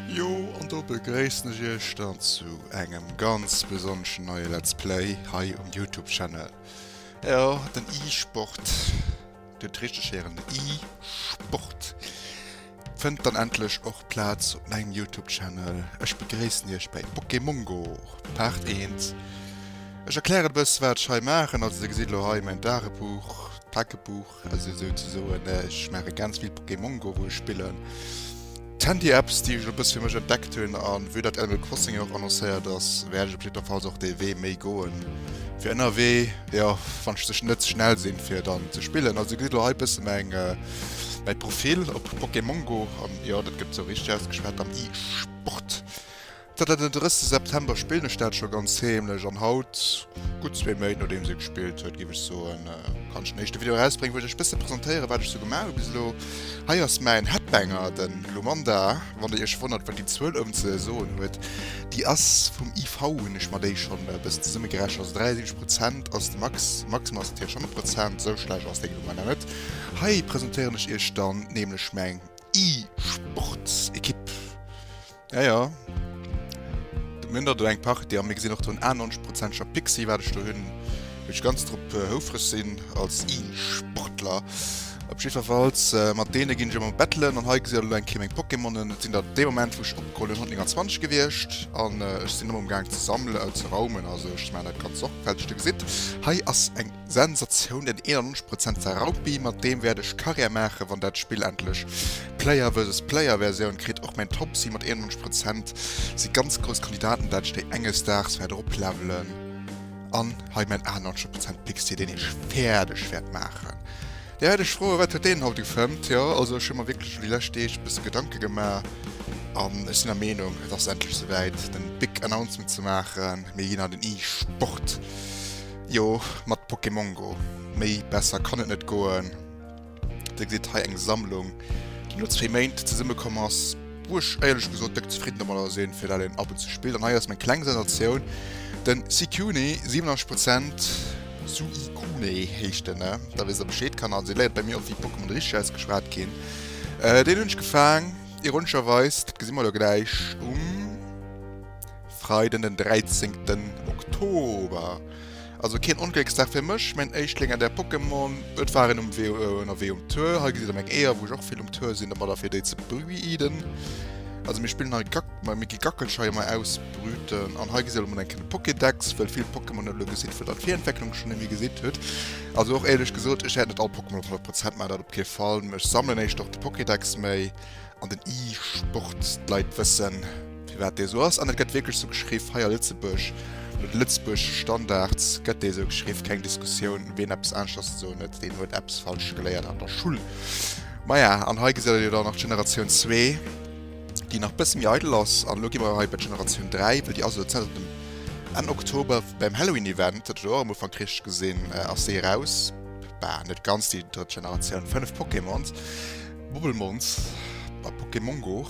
Jo, an do begréissen ech iech dann zu engem ganz besonneschen neie Let's Play hei um Youtube Channel. Jo, den e-Sport, dir hutt richteg héieren, den e-Sport. Fënnt dann endlech och Plaz op mengem Youtube Channel. Ech begréissen iech bei Pokémongo Part 1. Ech erklären e bësse wat ech hei maachen. Also dir gesitt lo hei mäin Dagebuch, Tagebuch also sou ze soen. Ech maache ganz vill Pokémongo wou ech spillen. D'Handy Apps déi ech elo e bësse fir mech entdeckt hunn an vue dat Animal Crossing jo och annoncéiert ass wäert ech op jiddwer Fall och dee Wee méi goen fir ënnerwee jo wann ech sech net ze schnell sinn fir dann ze spillen. Also dir gesitt lo hei e bësse mäin. mäi Profil op Pokémongo, an jo, dat gëtt sou richteg ausgeschwat, am E-Sport. Zanter den 30 September spillen ech dat scho ganz heemlech, an haut, gutt zwee Méint nodeems ee gespillt huet, géif ech soen, kann ech en éischte Video erausbréngen, wou ech iech e bësse presentéieren, wat ech sou gemaach hu bis elo. Hei ass mäin Headbanger, den Glumanda, wann der iech wonnert, wat déi Zuel ounn ze soen huet, déi ass vum IV, hunn ech mer déi schonn e bëssen zesummegerechent, also 73 Prozent ass de Max, Maximum ass natierlech 100 Prozent, sou schlecht ass deng Glumanda net. Hei presentéieren ech iech dann nämlech mäin E-Sports Ekipp. Ja ja. Mir hunn der do eng Partie a mir gesinn och do en 91 Prozenteger Pixi wat ech do hunn, wou ech ganz drop houfreg sinn als E-Sportler. Op jiddwerfalls mat deene ginn ech ëmmer battlen an hei gesitt der elo eng Kéier meng Pokémonen. Et sinn der dee Moment wou ech opgeholl hunn 129 gewiescht an ech sinn ëmmer um gaang ze sammelen, ze raumen, also ech maachen dat ganz sorgfälteg. Dir gesitt, hei ass eng. Sensatioun, den 91 Prozent war Raupi, mat deem wäert ech Karriär maachen, wann dat Spill endlech Player versus Player Versioun kritt. Och mäin Topsy mat 91 Prozent si ganz grouss Kandidaten, dat ech déi enges Daags wäert eroplevelen. An hei mäin 98 Prozent Pixie, deen ech fäerdeg wäert maachen. Dee wäert ech froen, wat huet deen haut gefëmmt? Jo, also ech hu mer wierklech elo déi lescht Deeg e bësse Gedanke gemaach an ech sinn der Meenung, et ass endlech souwäit, den Big Announcement ze maachen, mir ginn an den e-Sport. Jo mat Pokémon Go, méi besser kann et net goen. Dir gesitt hei eng Sammlung déi no zwee Méint zesumme komm ass, wou ech éierlech gesot déck zefridden domadder sinn, fir dat een ab und zu spillt. An hei ass meng kleng Sensatioun, den Suicune, 87 Prozent, Suicune heescht en, da wësst der Bescheed Kanner, se léiert bei mir och wéi Pokémon richteg ausgeschwat ginn. Deen hunn ech gefaang, ironescherweis, dat gesi mer elo gläich um. Freiden den 13 ten Oktober, also keen Onglécksdag fir mech, main Éischtling an der Pokémon Welt war en um Wee ënnerwee um Tour, hei gesitt der meng Eeër wou ech och vill um Tour sinn, domadder fir déi ze breeden, also mir spillen hei Gack, ma mir gi Gackelscheier mei ausbrüten, an hei gesitt der mol eng keng Pokédex, wëll vill Pokémon elo gesitt wëll dann Virentwecklung schon emmi gesitt huet, also och éierlech gesot ech hätt net all Pokémon op 100 Prozent, maach dat op kee Fall, mee ech sammelen éischter och de Pokédex mei. an den E-Sport d'Leit wëssen, firwat dee esou ass. An et gëtt wierklech esou geschriww hei a Lëtzebuerg. No de Lëtzebuerg Standards gëtt dee esou geschriww. Keng Diskussioun, ween eppes anescht ass, esou net, deen huet eppes falsch geléiert an der Schull. Maja, an hei gesitt der jo dann nach d'Generatioun zwee, déi nach e bësse méi eidel ass. An elo gi mer hei bei d'Generatioun dräi, wëll déi ass elo zäit op dem Enn Oktober beim Halloween-Event, dat huet der och am Ufank richteg gesinn, ass déi eraus. Bah, net ganz déi drëtt Generatioun, fënnef Pokémons. Bubbelmons a Pokémon Go.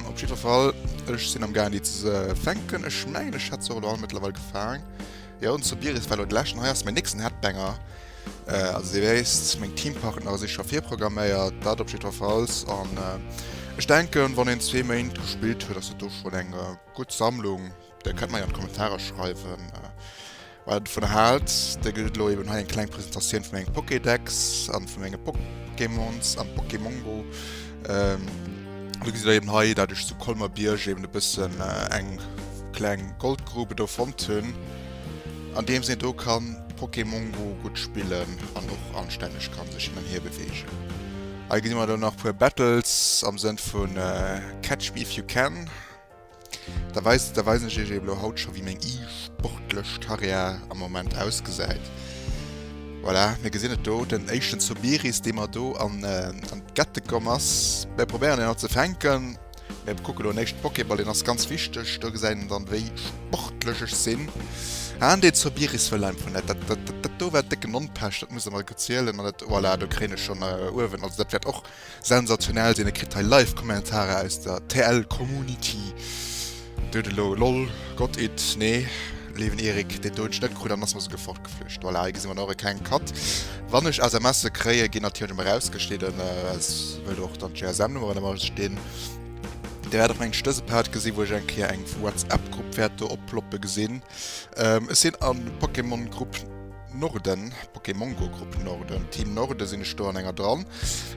Op jiddwer Fall, ech sinn am gaangen déi ze fänken. Ech mengen ech hätt se och elo all mëttlerweil gefaang. Jo, den Sobiris war elo de leschten. Hei ass mäin nächsten Headbanger. Also Dir wéisst, meng Teampartnere si scho virprogramméiert, dat op jiddwerfalls. An ech denken, wann een zwee Méint gespillt huet, ass dat do schonn eng gutt Sammlung. Der kënnt mer jo an d'Kommentarer schreiwen, äh, wat et vun haalt. Der gëtt et elo eben hei eng kleng Presentatioun vun engem Pokédex an vun engem Pokémons an Pokémongo. Ähm, du gesitt eben hei, dat ech zu Kolmer Bierg eben e bëssen äh, eng kleng Goldgrube do fonnt hunn, an deem sinn do kann Pokémongo gutt spillen an och anstänneg kann sech hin an hier beweegen. Hei gesi mer dann nach puer Battles am Sënn vun äh, Catch me if you can. Da weis, da weisen ech iech elo jo haut scho wéi meng e-sportlech Carrière am Moment ausgesäit. Voilà, mir gesinn et do, den éischten Sobiris, dee mer do an an d'Gette komm ass. Mir probéieren en haut ze fänken. Mir kucke lo néischt Pokéball, deen ass ganz wichteg. Do gesäit een dann, wéi sportlech ech sinn. An dee Sobiris wëll einfach net. Dat, dat, dat do war décken Onpescht, dat muss e mer gezielen. An dat, voilà, do kréien ech schonn uewen, also dat wäert och. Sensationell sinn, e kritt hei live Kommentarer aus der TL Community. Dote lo lol got it nee leewen Erik deen Toun Schnëtt krut an ass mer souguer fort geflücht. Voilà hei gesi mer nach e kleng Cut wann ech SMSe kréie ginn natierlech emmer rausgeschnidden es wëll och dann GSM Nummeren emmer stinn. Der wäert och mengen ech dëse Part gesi wou ech eng Kéier eng vu Whatsapp Grupp wäert do oploppe gesinn. Ech sinn an Pokémon Grupp. Norden, Pokémongo Grupp Norden, Team Norden sinn ech do an enger dran,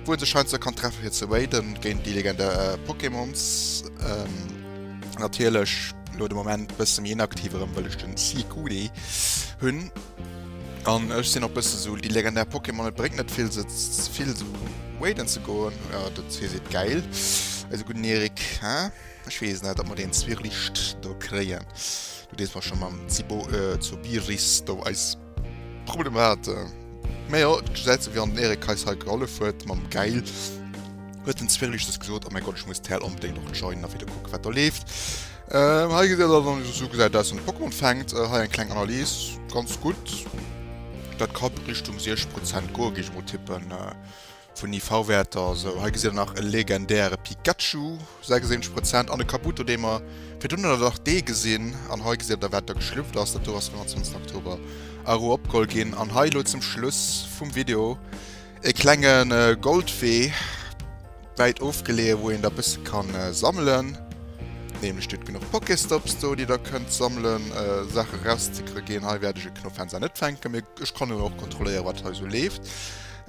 wou een sech heiansdo kann treffe fir ze raiden géint déi legendär Pokémons. Natierlech elo de Moment bësse méi inaktiv, erëm wëll ech den Seagoody hunn. An ech sinn och bësse sou, déi legendär Pokémon, et bréngt net vill se vill sou raiden ze goen, dat fir si et gäil, eise gudden Erik, haa. Ech wees net ob mer den Zwirlicht do kréien. Du dees mer schon mam Zibo äh, zu Biris do eis Problem hate. Mä jo, et gesäit sou wéi wann den Erik eis hei gehollef huet mam Geil. Huet den Zwirlicht des gesot, oh mäi Gott, ech muss d'Häl onbedéngt och joinen a wieder kucken wat do leeft. Ähm, hei gesäit dat dann sou gesäit aus wann de Pokémon fänkt. Äh, hei eng kleng Analys, ganz gutt. Dat ka Richtung 60 Prozent goen, géif ech mol tippen. Äh, Vun IV-Wäerter, esou hei gesitt der nach e legendäre Pikachu, 76 Prozent, an e Kabuto, dee mer virdrun an der Dach D gesinn. An hei gesitt der, wat da geschlüpft ass. Dat do ass vum 20 Oktober Aru opgeholl ginn. An hei elo zum Schluss vum Video e klenge Goldwee, wäit ofgeleeë, wou een da bësse ka sammelen. Nämlech do genuch Pokéstops do, déi der kënnt sammelen, Saache rauszekriegen. Hei wäert ech e Knuff Fenster net fänken, mee ech kann jo och kontrolléieren, wat hei esou leeft.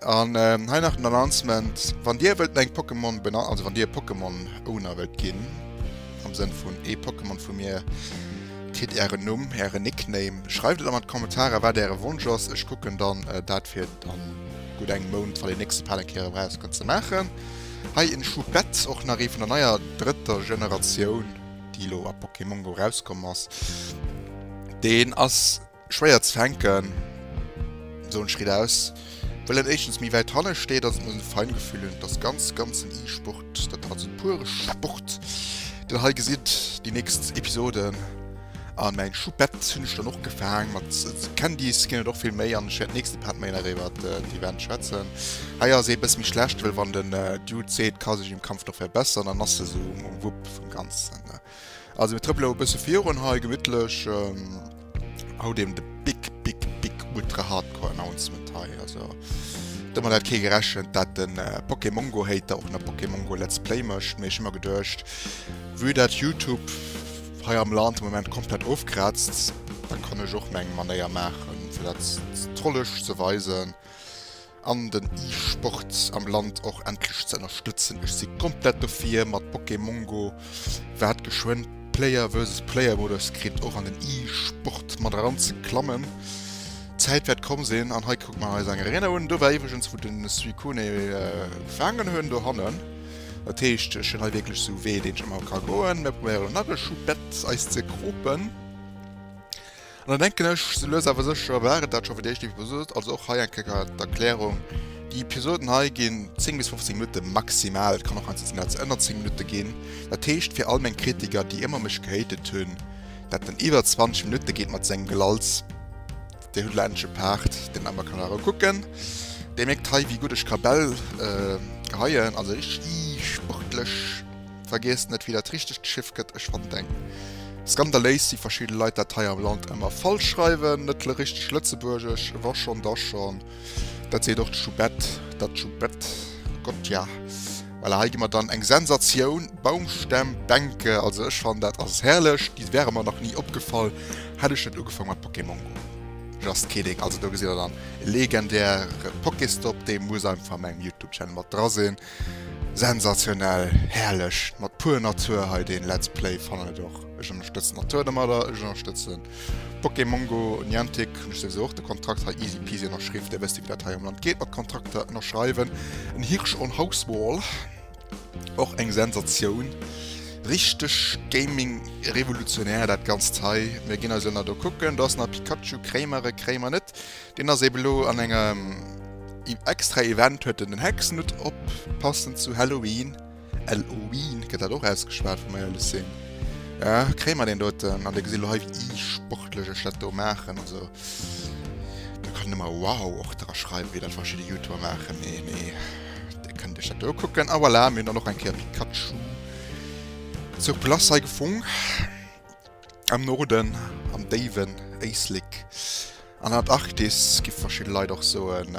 An hei nach den Announcement, wann dir wëllt meng Pokémon benann, also wann dir e Pokémon Owner wëllt ginn, am Sënn vun ee Pokémon vu mir kritt ären Numm, ären Nickname, schreift et an an d'Kommentarer wat äre Wonsch ass, ech kucken dann dat fir a gutt engem Mount, wann deen nächste Pal eng Kéier erauskënnt, ze maachen. Hei en Choupette, och nach ee vun der neier drëtter Generatioun, déi elo a Pokémon Go erauskomm ass, deen ass. Schwéier ze fänken, esou en Schritt aus, wëll en éischtens méi wäit hanne steet, an et muss en Feingefühl hunn, et ass ganz ganz en E-Sport, dat ass also pure Sport, den hei gesitt, déi nächst Episoden, a mäin Choupette hunn ech dann och gefaang, mat Candies ginn et och vill méi, an ech wäert nächste Part méi nach iwwert d'Event schwätzen. Hei ass ee bësse méi schlecht, wëll wann den Dude seet, ka sech im Kampf noch verbessern, dann ass e sou um Wupp vum Ganzen. Also mir trëppele elo e bësse virun hei, gemittlech. Haut eben de big, big, big ultra hardcore Announcement hei. Also domat hat kee gerechent, dat de Pokémongo Hater och nach Pokémongo Let's Play mécht. Mee ech hu mer geduecht, vue dat Youtube hei am Land de Moment komplett ofkraazt, da kann ech och meng Manéier maachen, fir dat trollesch ze weisen. an den E-Sport am Land och endlech ze ënnerstëtzen. Ech si komplett dofir mat Pokémongo wat geschwënn Player versus Player Modus kritt och an den E-Sport mat eran ze klammen. D'Zäit wäert komm sinn an hei kuckt mer eis eng Arena un. Do war iwwregens wou den Suicune faangen hunn dohannen. Dat heescht ech hunn hei wierklech esou Wee deen ech ëmmer ka goen. Mir probéieren nach e Schuh Bett eis ze kropen. An da denken ech, sou lues awer sécher war et dat scho fir déi éischt Episod. Also och hei eng Kéier d'Erklärung, Déi Episoden hei ginn 10 bis 15 Minutte maximal, et kann och eins sizen, dat ënner 10 Minutte ginn. Dat heescht, fir all meng Kritiker, déi ëmmer mech gehatet hunn, dat en iwwer 20 Minutte geet mat sengem Gelalls, Dir hutt elo endlech e Part, deen ëmmer kann erëm kucken. Dir mierkt hei, wéi gutt ech Kabell geheien, also richteg sportlech. Vergiesst net wéi dat richtegt Schiff gëtt, ech fannen eng skandaléis wéi verschidde Leit dat hei am Land emmer falsch schreiwen, net le richteg Lëtzebuergesch, wa schon da schon, dat seet och d'Schubett, dat Schubett, Gott ja, voilà, hei gi mer dann eng Sensatioun, Baumstämm, Bänke, also ech fannen dat ass herrlech, déi wäre mer nach ni opgefall, hätt ech net ugefang mat Pokémon go. Just kidding, also do gesitt der dann e legendäre Pokéstop, dee muss einfach a mengem Youtube Channel mat dra sinn. Sensationell, herrlech, mat pur Natur hei den Let's Play, fannen et och, ech ënnerstëtzen d'Natur domadder, ech ënnerstëtzen Pokémongo, Niantic hunn ech souwisou och de Kontrakt hei easy peasy ënnerschriww, dir wësst wéi dat hei am Land geet mat Kontrakter ënnerschreiwen, en Hirsch on Hauswall, och eng Sensatioun, richteg Gaming revolutionär dat ganzt hei, mir ginn eis elo nach do kucken, do ass nach Pikachu, kréie mer e, kréie mer net, Deen ass eben elo an engem extra Event huet en den Hexenhutt op, passend zu Halloween, Elloween gëtt dat och ausgeschwat wa mer éierlech sinn. Ja, kréie mer deen doten? An Dir gesitt elo hei wéi isportlech ech dat do maachen, also do kann een ëmmer wow och dra schreiwen, wéi dat verschidde Youtuber maachen, mee nee, Dir kënnt Iech dat do ukucken. A voilà, mir hunn dann och eng Kéier Pikachu zur Glace hei gefung. Am Norden, am déiwen Éislek, an der Antarktis gi verschidde Leit och soen,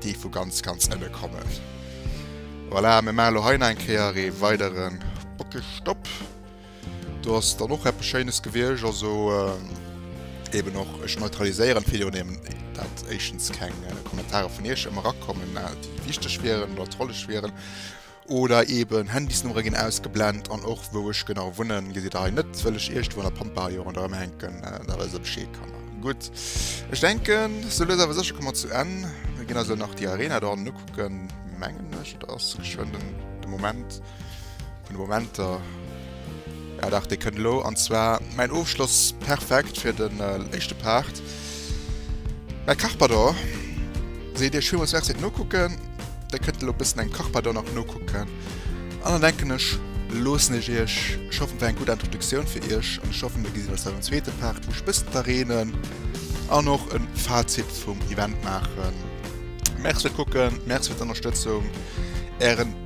déi vu ganz, ganz ënne kommen. Voilà, mir maachen elo hei nach eng Kéier ee weidere Bockestopp. Do ass dann och eppes Schéines gewiescht, also eeben och, ech neutraliséieren d'Video némmen, dat éischtens keng Kommentare vun iech erakommen, déi wichteg wieren oder trolleg wieren. Oder eben Handysnummere ginn ausgeblend an och wou ech genau wunnen gesitt der hei net, wëll ech Iergendwou an der Pampa hei jo ronderëm hänken, dat der se Bescheed kann maachen. Gutt, ech denken sou lues awer sécher komme mer zu Enn. Mir ginn eis elo nach déi Arena do hannen ukucken, mengen ech. Et ass geschwënn de Moment vun de Momenter. Ah dach, dei kënnt elo, an zwar mein Ofschloss, perfekt fir den éischte Part. Mäi Carpador, seet Dir villmools Merci fir d'Nokucken, Dir kënnt elo bëssen engem Carpador nach nokucken, an dann denken ech loossen ech Iech, ech hoffen et war eng gutt Introduktioun fir Iech, an ech hoffen mir gesinn eis dann am zweete Part, wou ech bëssen d'Arenen an och en Fazit vum Event maachen. Merci fir d'Kucken, Merci fir d'Ënnerstëtzung, Ären.